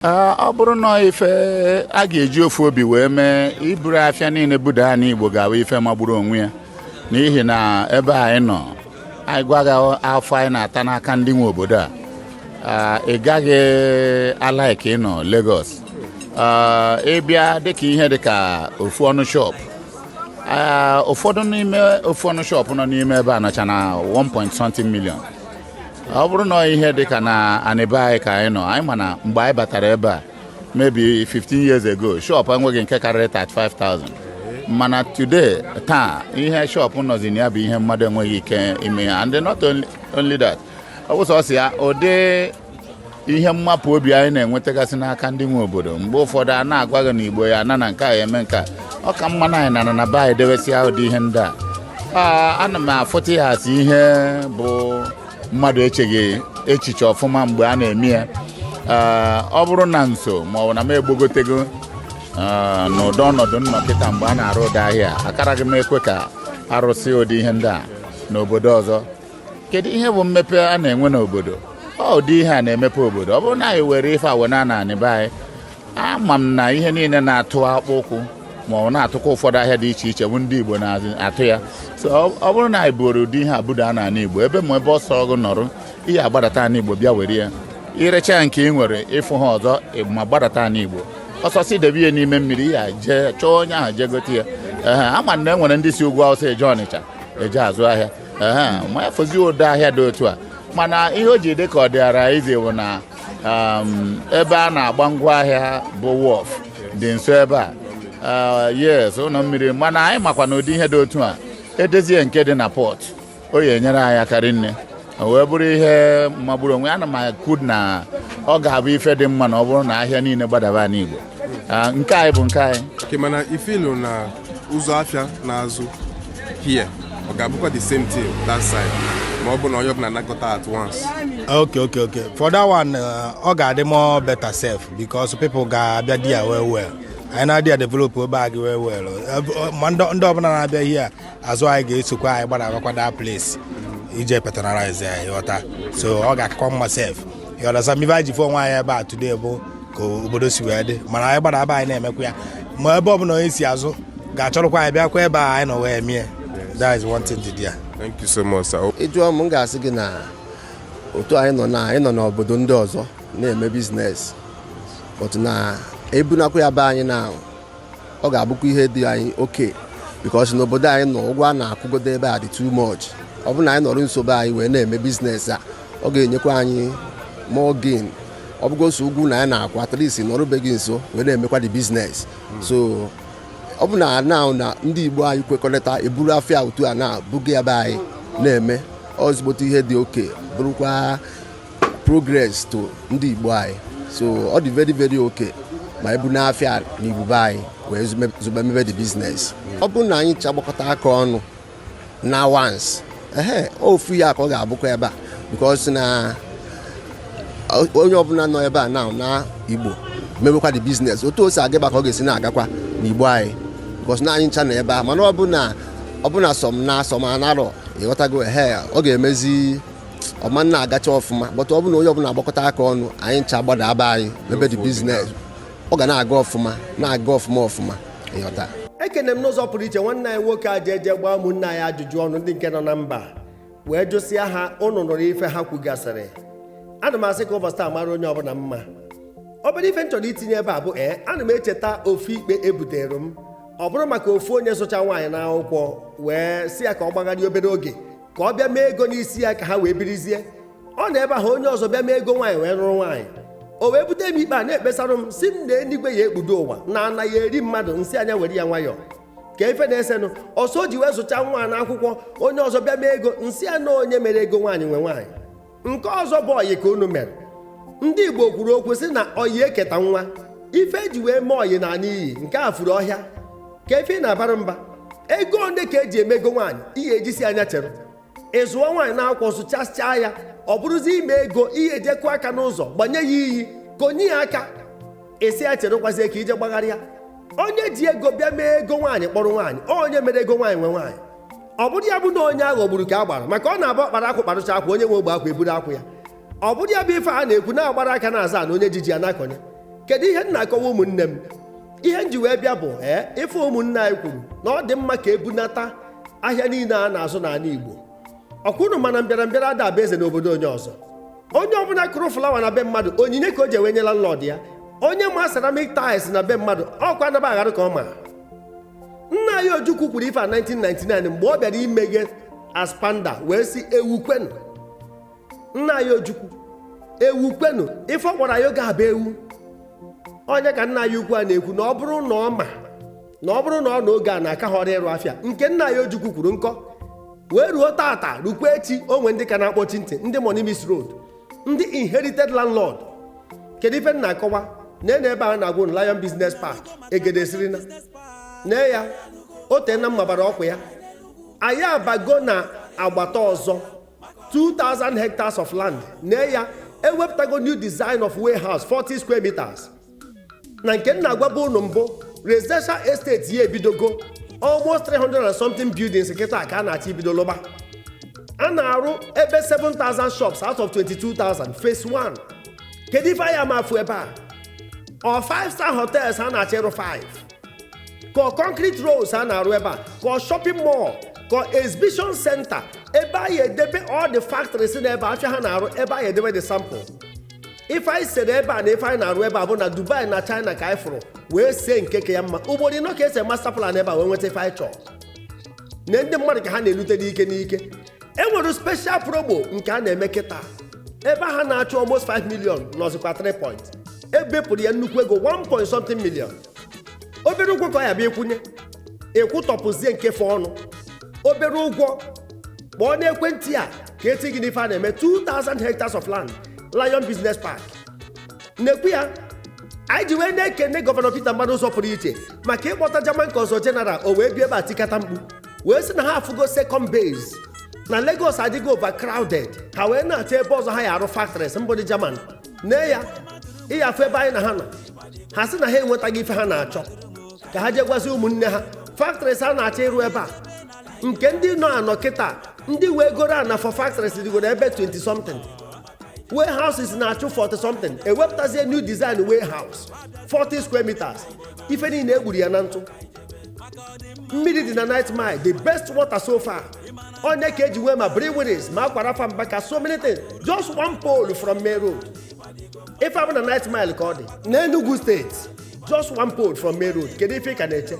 ọ bụrụ na ife a ga-eji ofu obi wee mee iburu afịa niile buda anị Igbo ga-abụ ife magburu onwe ya n'ihi na ebe anyị nọ anyị gwa gị afụfụ anyị na-ata n'aka ndị nwe obodo a ị gaghị alaiki ịnọ Lagos ịbịa dịka ihe dịka ofu ọnụ shop ụfọdụ n'ime ofu ọnụ shop nọ n'ime ebe a nọcha na 1.something million ọ bụrụ na ihe dị ka na anị be anyị ka anyị nọ anyị ma na mgbe anyị batara ebe a maybe 15 years ago shop enweghị nke karịrị 35,000 mana today taa ihe shop nọzi na ya bụ ihe mmadụ enweghị ike ime ya and not only that ọ bụ sọsọ ya ụdị ihe mmapụ obi anyị na-enwetagasị n'aka ndị nwe obodo mgbe ụfọdụ a na-agwa gị na Igbo ya-ana ana nke a eme nke a ọ ka mma na anyị nara na be anyị debesịa ụdị ihe ndị a ana m afụta ya as ihe bụ mmadụ echeghị echiche ọfụma mgbe a na-eme ya ọ bụrụ na m so ma ọ bụ na m agbagotego n'ụdị ọnọdụ nnọkịta mgbe a na-arụ ụdị ahịa akaraghị m ekwe ka arụsị ụdị ihe ndị a n'obodo ọzọ kedu ihe bụ mmepe a na-enwe n'obodo ọ ụdị ihe a na-emepe obodo ọ bụrụ na anyị were ife a wena na anị be anyị ama m na ihe niile na-atụ akpụ ụkwụ ma ọ na-atụkwa ụfọdụ ahịa dị iche iche bụ ndị Igbo na-atụ ya so ọ bụrụ na anyị buru ụdị ihe a budo n'ana Igbo ebe ma ebe ọ sọ gị nọrọ ị ya-agbadata ana Igbo bịa were ya i recha nke ị nwere ịfụ ha ọzọ ma gbadata ana Igbo ọsọsị debe ihe n'ime mmiri ya jee chọọ onye ahụ jee gote ya ee ama m na e nwere ndị si ugwu Awụsa eje Ọnịcha eje azụ ahịa ma ya fọzi ụdị ahịa dị otu a mana ihe o ji dị ka ọ dịara easy bụ na um, ebe a na-agba ngwa ahịa bụ wharf dị nso ebe a uh, yes ụlọ mmiri mana anyị makwa na ụdị ihe dị otu a edezie nke dị na Port ọ ya-enyere anyị aka rinne wee bụrụ ihe magburu onwe ana m akwado na ọ ga-abụ ife dị mma na ọ bụrụ na ahịa niile gbadaba anị Igbo Ah, nke anyị bụ nke anyị Okay, mana ị feel na ụzọ afịa na-azụ here ọ ga-abụkwa the same thing that side ma ọ bụ na onye ọbụla anakọta at once ok ok ok for that one uh, ọ ga-adị more better self because people ga-abịa there well well anyị na-adị ya develop ebe a gị well well Uh, ma ndị ndị ọbụla na-abịa here azụ anyị ga-esokwa anyị gbadabakwa that place ije patronize ya ịghọta so ọ ga-akakwa mma self you understand me ife anyị ji fụ onwe anyị ebe a today bụ ka obodo si wee dị mana anyị gbadaba anyị na-emekwa ya ma ebe ọbụla onye si azụ ga-achọrọkwa anyị bịakwa ebe a anyị nọ wee mie that is one thing to do ya Thank you so much, sir. ị jụọ m m ga-asị gị na otu anyị nọ na anyị nọ n'obodo ndị ọzọ na-eme business but na ebunakwa ya be anyị na ọ ga-abụkwa ihe dị anyị okay because n'obodo anyị nọ ụgwọ a na-akwụgodo ebe a dị too much ọ bụrụ na anyị nọrọ nso be anyị wee na-eme business a ọ ga-enyekwa anyị more gain ọ bụgo sọ ụgwọ ụnọ anyị na-akwụ at least nọrọ be gị nso wee na-emekwa the business so ọ bụ na na na ndị Igbo anyị kwekọrịta eburu afịa otu a na-ebuga be anyị na-eme ozigbote ihe dị okay bụrụkwa progress to ndị Igbo anyị so ọ dị very very okay ma ebuna afịa na Igbo be anyị wee zụba mebe the business ọ bụrụ na anyị ncha gbakọta aka ọnụ na once ehe ofu ihe ka ọ ga-abụkwa ebe a because na onye ọbụla nọ ebe a na na Igbo mebekwa the business otu o si aga ebe a ka ọ ga-esi na-agakwa na Igbo anyị because na anyị ncha nọ ebe a mana ọ bụ na ọ bụ na some na some anarọ ị ghọtago ehe ọ ga-emezi ọ ma na-agacha ọfụma but ọ bụ na onye ọbụla agbakọta aka ọnụ anyị ncha gbadaa be anyị mebe the business ọ ga na-aga ọfụma na-aga ọfụma ọfụma ị ghọta ekene m n'ụzọ pụrụ iche nwanne anyị nwoke a ji eje gbaa ụmụnne anyị ajụjụ ọnụ ndị nke nọ na mba wee jụsịa ha ụnụ nụrụ ife ha kwugasịrị ana m asị ka ụbọchị taa mara onye ọbụla mma obere ife m chọrọ itinye ebe a bụ ee ana m echeta ofu ikpe ebutere m ọ bụrụ maka ofu onye zụcha nwaanyị n'akwụkwọ wee sị ya ka ọ gbagharịa obere oge ka ọ bịa mee ego n'isi ya ka ha wee birizie ọ nọ ebe ahụ onye ọzọ bịa mee ego nwaanyị wee lụrụ nwaanyị o wee bute m ikpe a na-ekpesara m sị m na enigwe ya ekpudo ụwa na ana ya eri mmadụ m sị ya nya were ya nwayọọ ka ife na-esenụ ọ sị o ji wee zụcha nwa na akwụkwọ onye ọzọ bịa mee ego m sị ya na onye mere ego nwaanyị nwe nwaanyị nke ọzọ bụ ọyị ka unu mere ndị Igbo kwuru okwu sị na ọyị eketa nwa ife eji wee mee ọyị naa n'iyi nke a furu ọhịa ka ife na-abara mba ego ole ka eji eme ego nwaanyị ị ya-eji sị ya nya chere ị zụọ nwaanyị na akwụkwọ zụchasịa ya ọ bụrụzi ime ego ị ya-eje kụọ aka n'ụzọ gbanye ya iyi ka onye ya aka ị sị ya cherekwazie ka i je gbagharịa onye ji ego bịa mee ego nwaanyị kpọrọ nwaanyị onye mere ego nwaanyị nwe nwaanyị ọ bụrụ ya bụ na onye a ghọgburu ka a gbara maka ọ na-abụ ọkpara akwụ kparụcha akwụ onye nwe ogbe akwụ eburu akwụ ya ọ bụrụ ya bụ ife a na-ekwu na agbara aka na-azọ ana onye ji ji ana-akọnye kedu ihe m na-akọwa ụmụnne m ihe m ji wee bịa bụ ee ife ụmụnne anyị kwuru na ọ dị mma ka ebunata ahịa niile a na-azụ n'ala Igbo ọkwa ụnụ ma na mbịara mbịara ada abụ eze n'obodo onye ọzọ onye ọbụla kụrụ flower na be mmadụ onyinye ka o ji wee nye landlord ya onye ma ceramic tiles na be mmadụ ọkwa anaba aghara ka ọ ma nna anyị Ojukwu kwuru ife a 1999 mgbe ọ bịara imeghe ASPAMDA wee sị ewu kwenu nna anyị Ojukwu ewu kwenu ife ọ kpọrọ anyị oge a bụ ewu onye ka nna anyị ukwu a na-ekwu na ọ bụrụ na ọ ma na ọ bụrụ na ọ nọ oge a na a ka họrọ ịrụ afịa nke nna anyị Ojukwu kwuru nkọ wee ruo tata rukwa echi o nwe ndị ka na-akpọchi ntị ndị money miss road ndị inherited landlord kedu ife m na-akọwa na ene ebe a na-agwụ na Lion Business Park egede siri na nee ya o teena m mabara ọkwa ya anyị abago na agbata ọzọ 2000 hectares of land nee ya ewepụtago new design of warehouse 40 square meters na nke m na-agwabu unu mbụ residential estate ya ebidogo almost 300 and something buildings kịta ka a na-achọ ibido lụba a na-arụ ebe 7000 shops out of 22000 phase 1 kedu ife anya ama afụ ebe a ọ 5 star hotels a na-achọ ịrụ 5 ka ọ concrete roads a na-arụ ebe a ka ọ shopping mall ka ọ exhibition center ebe anyị edebe all the factories na ebe afịa ha na-arụ ebe anyị edebe the sample ife anyị sere ebe a na ife anyị na-arụ ebe a bụ na dubai na china ka anyị fụrụ wee see nke ka ya mma ugboro ịnọ ka e se master plan ebe a wee nweta ife anyị chọrọ na ndị mmadụ ka ha na-elute n'ike n'ike e nwere special promo nke a na-eme kịta ebe ha na-achụ almost 5 million nọzikwa 3 point e bepụrụ ya nnukwu ego 1 point something million obere ụgwọ ka ọ ya abụ ị kwụnye ị kwụtọpụzie nke fọọnụ obere ụgwọ kpọọ n'ekwentị a ka e tii gị n'ife a na-eme 2000 hectares of land Lion Business Park na-ekwu ya anyị ji wee na-ekene gọvanọ Peter Mbah na ụzọ pụrụ iche maka ịkpọta German consul general o wee bịa ebe a tikata mkpu wee sị na ha afụgo second base na Lagos adịgo overcrowded ha wee na-achọ ebe ọzọ ha ya arụ factories mbụ ndị German nee ya ị ya afụ ebe anyị na ha nọ ha sị na ha enwetago ife ha na-achọ ka ha jee gwazi ụmụnne ha factories a na-achọ ịrụ ebe a nke ndị nọ anọ kịta ndị wee goro ana for factories dịgoro ebe 20 something warehouses na-achụ 40 something ewepụtazie new design warehouse 40 square meters ife niile e gburu ya na ntụ mmiri dị na 9th Mile the best water so far ọ nya ka e ji nwee ma breweries ma Aqua Rapha Mbaka so many things just one pole from main road ife a bụ na 9th Mile ka ọ dị n'Enugu steeti just one pole from main road kedu ife ị ka na-eche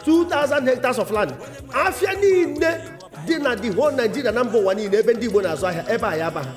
2000 hectares of land afịa niile dị na the whole Nigeria na mba ụwa niile ebe ndị Igbo na-azụ ahịa ebe a ya aba ha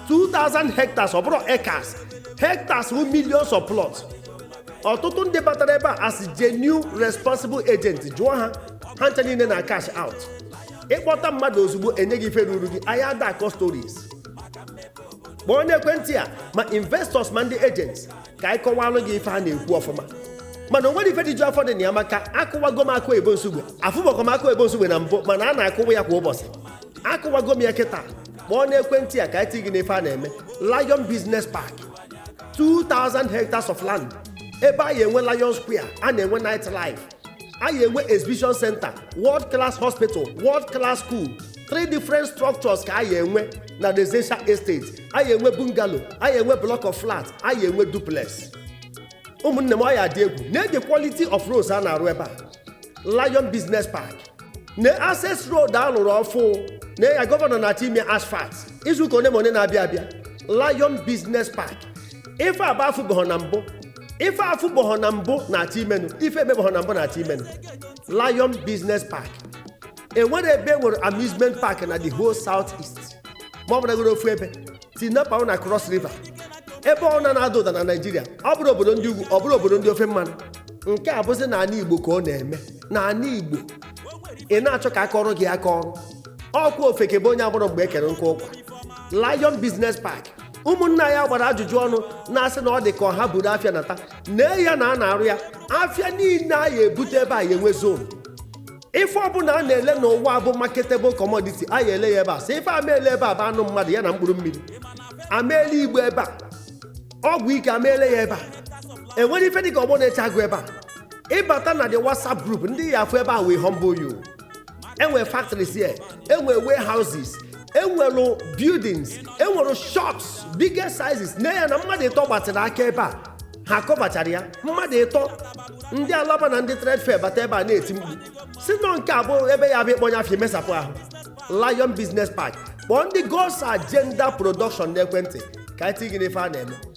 2000 hectares ọ bụrọ acres hectares wụ millions of plots ọtụtụ ndị batara ebe a as genuine responsible agent jụọ ha ha ncha niile na-cash out ị kpọta mmadụ ozugbo e nye gị ife ruru gị anyị ada akọ stories kpọọ n'ekwentị a ma investors ma ndị agents ka anyị kọwalụ gị ife a na-ekwu ọfụma mana o nwere ife dị ju afọ dị na ya maka akụwago m akụ ebo nsugbe afụbọkọ m akụ ebo nsugbe na mbụ mana a na-akụwa ya kwa ụbọchị akụwago m ya kịta kpọọ n'ekwentị a ka anyị tii gị n'ife a na-eme Lion Business Park 2000 hectares of land ebe a ya enwe Lion Square a na-enwe night life a ya enwe exhibition center world class hospital world class school three different structures ka a ya enwe na residential estate a ya enwe bungalow a ya enwe block of flat a ya enwe duplex ụmụnne m ọ ya adị egwu nee the quality of roads a na-arụ ebe a lion business park na access road a lụrụ ọfụ nee ya gọvanọ na-achọ ime asphalt izuụka one ma one na-abịa abịa lion business park ife a bụ afụbeghọ na mbụ ife afụbọhọ na mbụ na-achọ imenụ ife emebọhọ na mbụ na-achọ imenụ lion business park enwere ebe enwere amusement park na the whole south east ma ọ bụrụgoro ofu ebe tinapa ahụ na cross river ebe ọ na na-ada ụda na naijiria ọ bụrụ obodo ndị ugwu ọ bụrụ obodo ndị ofe mmanụ nke a bụzi n'ana igbo ka ọ na-eme n'anị igbo ị na-achọ ka a kọọrọ gị akọọrọ ọkwa ofeke bụ onye amarọ mgbe e kere nkụ ụkwa lion business park ụmụnna anyị gbara ajụjụ ọnụ na-asị na ọ dị ka ha buru afịa nata nee ya na a na-arụ ya afịa niile a ya ebute ebe a ya enwe zone ife ọbụla a na-ele n'ụwa bụ marketable commodity a ya ele ya ebe a sọ ife a ma ele ebe a bụ anụ mmadụ ya na mkpụrụ mmiri a ma ele igbo ebe a ọgwụ ike a ma ele ya ebe a enwere ife dịka ọgbọ na-eche agụ ebe a ịbata na the whatsapp group ndị ị ya afụ ebe a will humble you enwere factories here enwere warehouses enwere buildings enwere shops bigger sizes nee ya na mmadụ ịtọ gbatịrị aka ebe a ha akọbachara ya mmadụ ịtọ ndị alaba na ndị trade fair bata ebe a na-eti mkpu sị na nke a bụ ebe ya abụ ịkpọnye afịa emesapụ ahụ lion business park kpọọ ndị god's agenda production n'ekwentị ka anyị tinye gị n'ife a na-eme